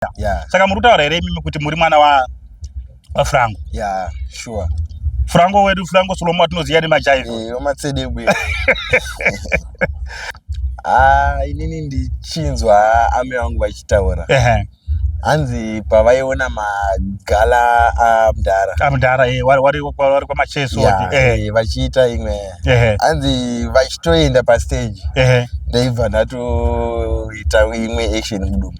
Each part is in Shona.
kuita yeah. Saka muri kutaura here imimi kuti muri mwana wa vafrango yeah, sure. Frango wedu Frango Solomon atinoziva nemajaiva eh, wamatsede bwe ah, inini ndichinzwa ame vangu vachitaura hanzi pavaiona magala amdhara ah, amdhara ah, eh, wari kwamacheso eh. vachiita imwe hanzi vachitoenda pastage ndaibva ndatoita imwe action mudumbu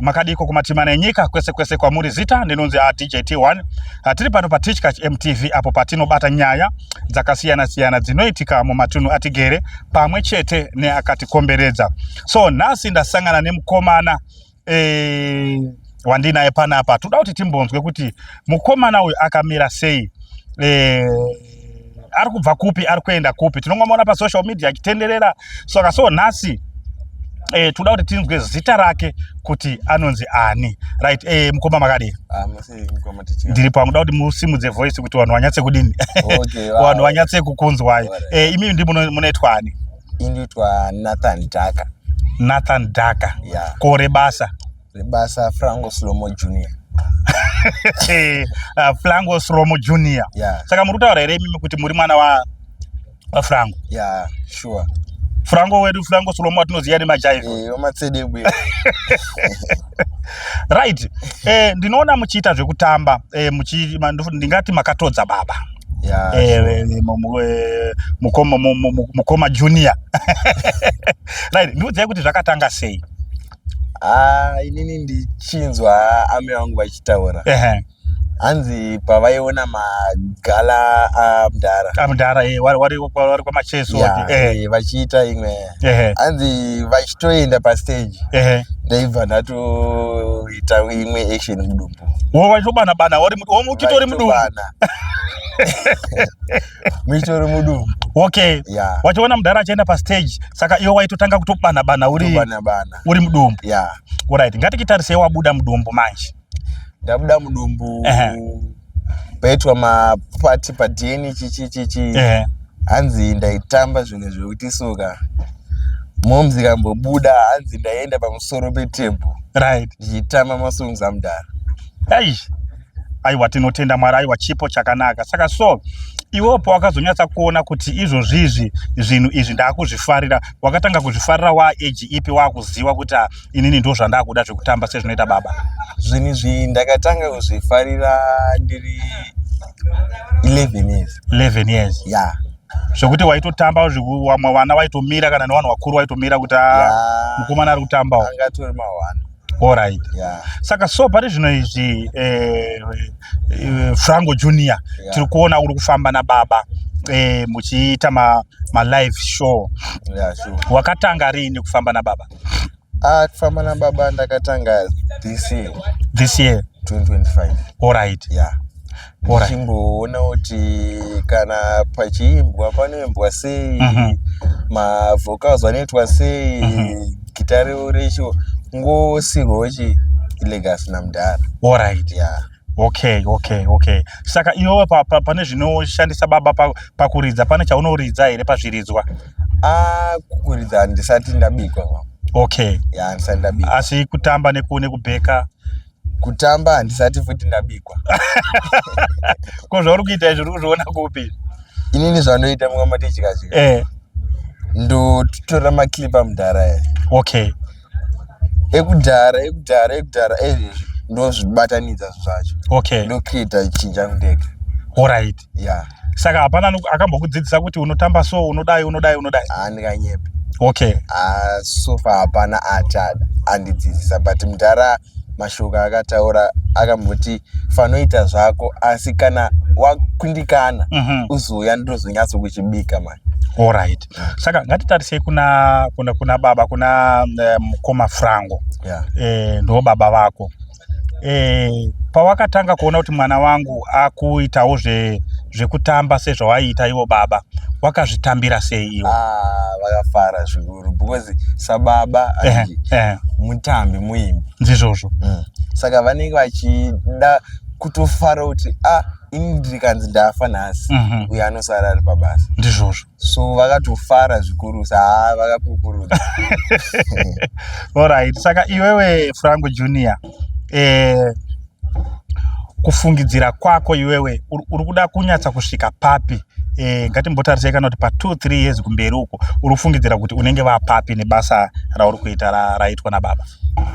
makadiko kumatima nenyika kwese kwese kwamuri zita ndinonzi adjt1 hatiri pano patichkach mtv apo patinobata nyaya dzakasiyana siyana dzinoitika mumatunhu atigere pamwe chete neakatikomberedza so nhasi ndasangana nemukomana e, wandinaye panapa toda kuti timbonzwe kuti mukomana uyu akamira sei e, ari kubva kupi ari kuenda kupi tinongomuona pasocial media achitenderera saka so nhasi eh, toda kuti tinzwe zita rake kuti anonzi ani right eh, mukoma makadii ah, ndiri pangu da kuti musimudze voice kuti vanhu vanyatse kudini okay, wow. vanhu vanyatse kukunzwai right. eh, imi ndi munoitwa ani inoitwa nathan daka nathan daka yeah. kore basa rebasa franco slomo junior ah, franco slomo junior yeah. saka muri kutaura here imimi kuti muri mwana wa vafrango ya yeah, sure frango wedu frango solomon atinoziva nemajaiva eh, matsedegwe right eh, ndinoona muchiita zvekutamba eh, ndingati makatodza baba mukoma junior right ndiudzai kuti zvakatanga sei Ah, inini ndichinzwa ame vangu vachitaura Ehe. hanzi pavaiona magala amdhara Ah, mudhara eh, wari wari wari kwamacheso Yeah, wati, eh, eh, vachiita imwe ehe, hanzi vachitoenda pastage ehe. ndaibva ndatoita imwe action mudumbu Wo wachitobana bana wari mu- wo muchito uri mudumbu Vaitobana. muchitori mudumbu okay yeah. wachiona mudhara achienda pastage saka iwe waitotanga kutobana bana uri bana bana uri mudumbu yeah. alright ngatikitarisei wabuda mudumbu manje ndabuda mudumbu uh -huh. paitwa mapati padheni chichi chichi uh -huh. hanzi ndaitamba zvinhu zvekuti suka momzi kambobuda hanzi ndaienda pamusoro petebhu right ndichitamba masongs amudhara eish aiwa tinotenda mwari aiwa chipo chakanaka saka so iwewo pawakazonyatsa kuona kuti izvozvizvi zvinhu izvi ndaakuzvifarira wakatanga kuzvifarira waa age ipi waakuziva kuti ah, inini ndo zvandaakuda zvekutamba sezvinoita baba zvinhu izvi ndakatanga kuzvifarira ndiri 11 years 11 years ya yeah. zvekuti waitotamba vamwe vana vaitomira kana nevanhu vakuru vaitomira kuti ah, yeah. mukomana ari kutambawo angatori mahwana Alright. Yeah. Saka so pari zvino izvi eh, eh, Franco Junior yeah. tiri kuona uri kufamba na baba eh, muchiita ma, ma live show. Yeah, sure. Wakatanga rini kufamba na baba? Ah, kufamba na baba ndakatanga this year. This year 2025. Alright. Yeah. ndichimboona kuti kana pachiimbwa panoimbwa sei mm -hmm. mavhokals anoitwa sei mm -hmm. gita revo recho ngosirwawo chi legacy namudhara orit yeah okay okay okay saka iwewe pa, pa, pane zvinoshandisa baba pakuridza pa pane chaunoridza here pazviridzwa ah, kuridza handisati ndabikwa okay yeah, handisati ndabikwa asi kutamba nekubheka kutamba handisati futi ndabikwa ko zvauri kuita izvi uri kuzviona kupi inini zvanoita mumwe matichikazvi eh. ndotora maclipa mudhara e okay ekudhara ekudhara ekudhara ezvezvi ndozvibatanidza zvacho okay ndocreata chinja mudeke orit yeah. saka hapana akambokudzidzisa kuti unotamba so unodai unodai unodai andikanyepi okay uh, so far hapana achada andidzidzisa but mdhara mashoko akataura akamboti fanoita zvako asi kana wakundikana mm -hmm. uzouya ndozonyatso kuchibika mani allright yeah. saka ngatitarisei kuna, kuna, kuna baba kuna eh, mukoma um, frango yeah. eh, ndo baba vako eh, pawakatanga kuona kuti mwana wangu akuitawo zve zvekutamba sezvawaiita ivo baba wakazvitambira sei iwo ah, vakafara zvikuru because sababa eh, eh. mutambi muimbi ndizvozvo mm. saka vanenge vachida kutofara kuti ah ini ndikanzi ndafa nhasi mm -hmm. uyo anosara ari pabasa ndizvozvo so vakatofara zvikurusa haa vakakukurudza orit saka iwewe franco junior eh, kufungidzira kwako iwewe uri kuda kunyatsa kusvika papi eh, ngatimbotarisei kana kuti pa 2 3 years kumberi uko uri kufungidzira kuti unenge vapapi nebasa rauri kuita raitwa nababa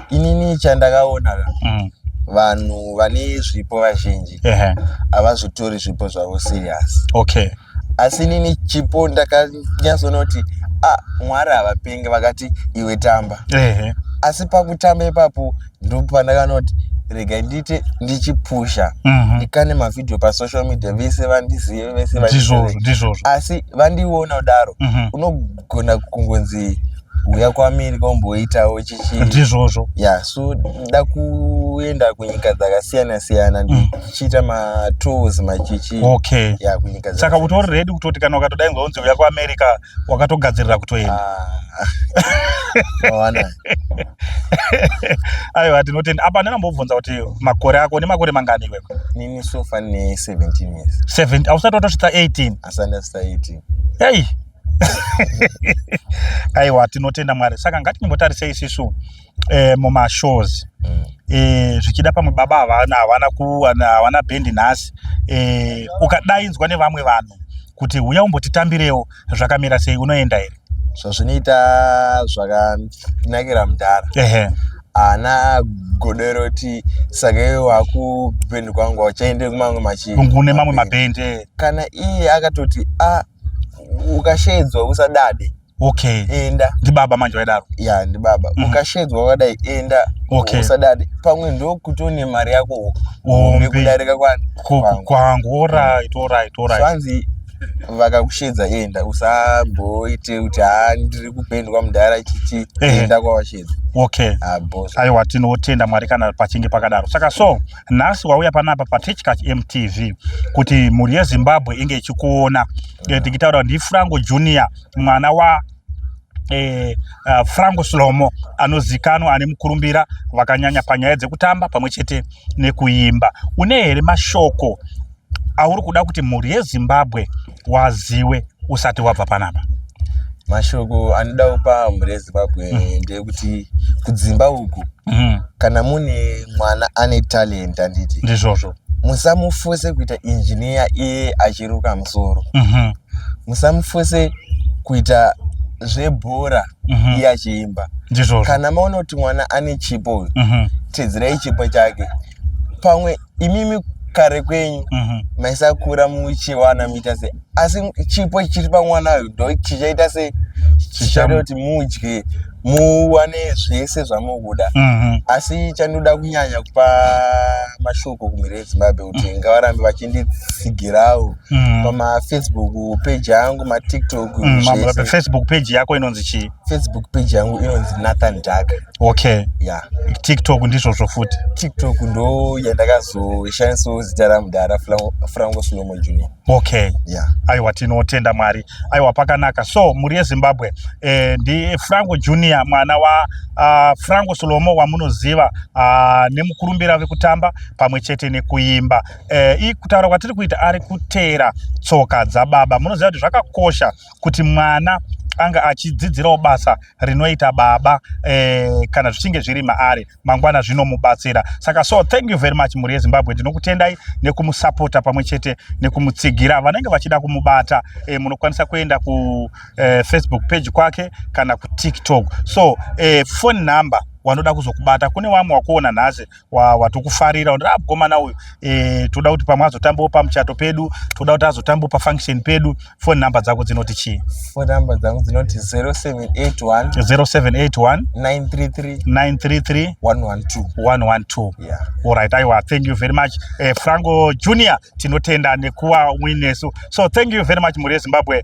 inini chandakaona mm. vanhu vane zvipo vazhinji havazvitori zvipo zvavo serious okay asi inini chipo ndakanyatsonoti ah, mwari havapenge vakati iwe tamba ehe asi pakutamba ipapo ndopanakanoti rega ndiite ndichipusha Mhm. ndikane mavhidhiyo pasocial media vese vandizive vese vandizive. ndizvozvo ndizvozvo asi vandiona kudaro Mhm. uno kugona kungonzi uya kwamiri kwamboitawo chichi ndizvozvo ya so da kuenda kunyika dzakasiyana siyana mm. ndichiita matours machichi okay ya kunyika saka utori ready kutoti kana ukatodainzwa unzi uya kuamerica wakatogadzirira kutoenda ah. aiwa tinotenda apa ndinambobvunza kuti makore ako une makore mangani iwewe nini sofa ne 17 years 7 ausati watosvitsa 18 asati ndasvitsa 18 hey aiwa tinotenda mwari saka ngatinyimbotarisei isisu eh, mumashows mm. eh, zvichida pamwe baba havana havana kuwana havana bhendi nhasi eh, ukadainzwa nevamwe vanhu kuti huya umbotitambirewo zvakamira sei unoenda here zvazvinoita zvakanakira mudhara ana godero ti saka iwe wakubhendi kwangu uchaende kumamwe machine kune mamwe mabhendi kana iye akatoti a ah, ukashedzwa usadade okay enda ndibaba manje vaidaro ya yeah, ndibaba mm -hmm. ukashedzwa wakadai enda okay. usadade pamwe ndokuti une mari yako hombe kudarika kwangu orit orit orit hanzi vakakushedza enda usamboite kuti ha ndiri kupendwa mudhara chichi enda kwawashedza okay aiwa tinotenda mwari kana pachinge pakadaro saka so nhasi wauya panapa patechcach mtv kuti mhuri yezimbabwe inge ichikuona eh, tikitaura kuti ndifranco junior mwana wa eh, uh, franco slomo anozikanwa ane mukurumbira vakanyanya panyaya dzekutamba pamwe chete nekuimba une here mashoko auri kuda kuti mhuri yezimbabwe waziwe usati wabva panapa mashoko anoda kupa mhuri yezimbabwe mm. ndeyekuti kudzimba uku mm. kana mune mwana ane talent anditi ndizvozvo musamufose kuita injiniya iye achiruka musoro mm -hmm. musamufose kuita zvebhora mm -hmm. iye achiimba ndizvozvo kana maona kuti mwana ane chipo mm -hmm. teedzerai chipo chake pamwe imimi kare kwenyu mhm. maisakura muchiwana muita se asi chipo chiri pamwana uyu ndo chichaita se chichaita kuti mudye muwane zvese zvamukuda mhm. asi chandinoda kunyanya kupa mashoko kumhiri yezimbabwe kuti mhm. ngavarambe vachinditsigirawo mhm. pamafacebook page yangu matiktok facebook page yako inonzi chii facebook page yangu inonzi nathan daka okay yeah tiktok ndizvozvo futi tiktok ndo yandakazoishandisawo zita ramudhara franco slomo junior okay yeah aiwa tinotenda mwari aiwa pakanaka so mhuri yezimbabwe eh, ndi franco junior mwana wa uh, franco slomo wamunoziva uh, nemukurumbira vekutamba pamwe chete nekuimba eh, kutaura kwatiri kuita ari kutera tsoka dzababa munoziva kuti zvakakosha kuti mwana ange achidzidzirawo basa rinoita baba eh, kana zvichinge zviri maari mangwana zvinomubatsira saka so thank you very much mhuri yezimbabwe ndinokutendai nekumusapota pamwe chete nekumutsigira vanenge vachida kumubata eh, munokwanisa kuenda kufacebook eh, page kwake kana kutiktok so eh, phone number wanoda kuzokubata kune vamwe wakuona nhasi wawa tokufarira ah, mukomana uyu e, toda kuti pamwe azotambawo pamuchato pedu toda kuti azotambawo pafunction pedu foni number dzako dzinoti chii foni number dzangu dzinoti 0781 0781 933 933 112 112 yeah. alright aiwa thank you very much eh, franco junior tinotenda nekuwa winesu so thank you very much mhuri yezimbabwe